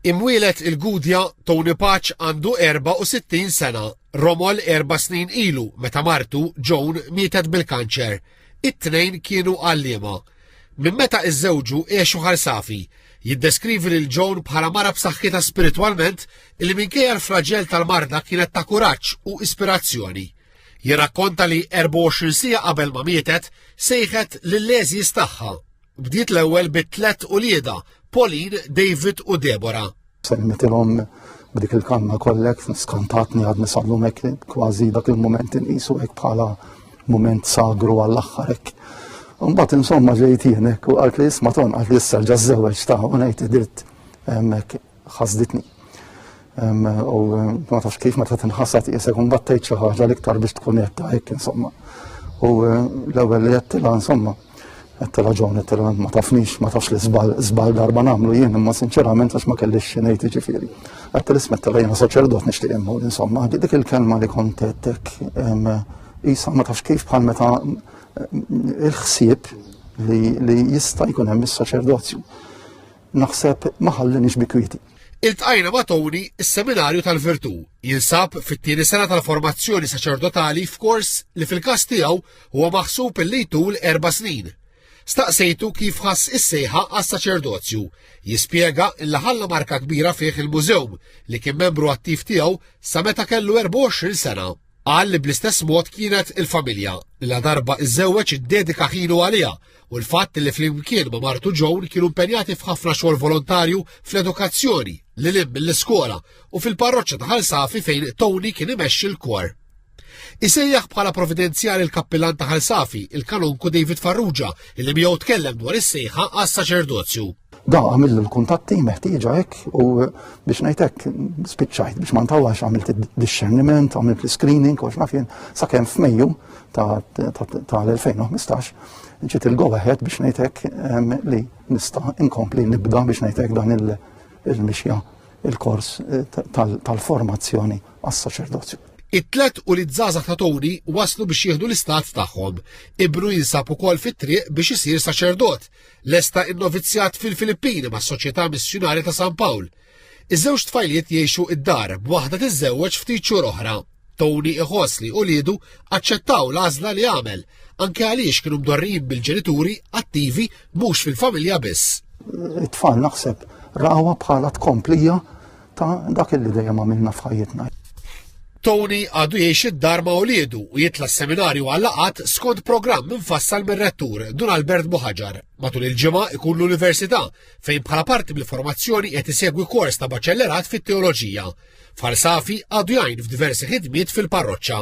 Imwieled il-Gudja, Tony Paċ għandu 64 sena, romol erba' snin ilu meta martu, Joan, mietet bil-kanċer. It-tnejn kienu għalliema. Minn meta iżżewġu għexu ħarsafi. Jiddeskrivi lil Joan bħala mara b'saħħitha spiritwalment li minkejja l-flaġell tal-marda kienet ta' kuraġġ u ispirazzjoni. Jirrakkonta li 24 siegħa qabel ma mietet sejħet lill-għeżież tagħha Bdiet l-ewwel bi tlet ulieda, Pauline, David u Debora. Semmitilhom b'dik il-kanna kollek skantatni għad nisallu mek kważi dak il-moment inqisu hekk bħala moment sagru għall-aħħar hekk. Mbagħad insomma ġejt jienek u qalt li isma' ton qalt li issa ġażżewġ ta' u ngħid idirt hemmhekk ħasditni. U ma tafx kif meta tinħasad jesa kun battejt xi ħaġa l-iktar biex tkun qed hekk insomma. U l-ewwel li qed tilha insomma qed tilha ġon qed tilha ma tafnix ma tafx li żbal żbal darba nagħmlu jien imma sinċerament għax ma kellix xi ngħid jiġifieri. Qed tilismet tilha jiena saċerdot nixtieq immur insomma dik il-kelma li kont qedtek isa ma tafx kif bħal meta il-ħsieb li jista' jkun hemm is-saċerdozju. naħseb ma ħallinix bi kwieti. Iltqajna ma' Tony is-Seminarju tal-Virtù jinsab fit-tieni sena tal-formazzjoni saċerdotali f'kors li fil-każ tiegħu huwa maħsub li jtul erba' snin. Staqsejtu kif ħass is-sejħa għas-saċerdozju. Jispjega illa ħalla marka kbira fih il-mużew li kien membru attiv tiegħu sa meta kellu 24 sena. Qal li bl-istess mod kienet il-familja la darba iżewweġ iddedika ħinu għaliha u l-fatt li flimkien ma' martu Joan kienu impenjati f'ħafna xogħol volontarju fl-edukazzjoni li lib mill-iskola u fil-parroċċa ta' Ħalsafi fejn Tony kien imexxi l-kor. Isejjaħ bħala providenzjali l-kappillan ta' Ħalsafi, il-kanonku David Farrugia, illi miegħu tkellem dwar is-sejħa għas-saċerdozju. Da għamil l-kuntatti meħtieġa hekk u biex ngħidlek spiċċajt biex ma ntawlax għamilt id-discerniment, għamilt l-screening u x'nafjen sakemm f'Mejju tal-2015 ġiet il-go ahead biex ngħidlek ehm, li nista' inkompli nibda biex ngħidlek dan il-mixja il-kors eh, tal-formazzjoni għas-saċerdozju. It-tlet u li żgħażagħ ta' Tony waslu biex jieħdu l-istat tagħhom. Ibru jinsab ukoll fit-triq biex isir saċerdot. Lesta innovizzjat fil-Filippini mas-Soċjetà Missjunari ta' San Pawl. Iż-żewġ tfajliet jgħixu id-dar b'waħda tiżżewweġ ftit xhur oħra. Tony iħoss li uliedu aċċettaw l-għażla li għamel, anke għaliex kienu mdorrijin bil-ġenituri attivi mhux fil-familja biss. It-tfal naħseb rawa bħala tkomplija ta' dak li dejjem għamilna f'ħajjitna. Tony għadu jiex id-dar ma' uliedu u jitla s-seminarju għallaqat skont programm mfassal mir-rettur Dun Albert Buħaġar. Matul il-ġimgħa ikun l-università fejn bħala parti mill-formazzjoni qed isegwi kors ta' baċellerat fit-teoloġija. Farsafi għadu jgħin f'diversi ħidmiet fil-parroċċa.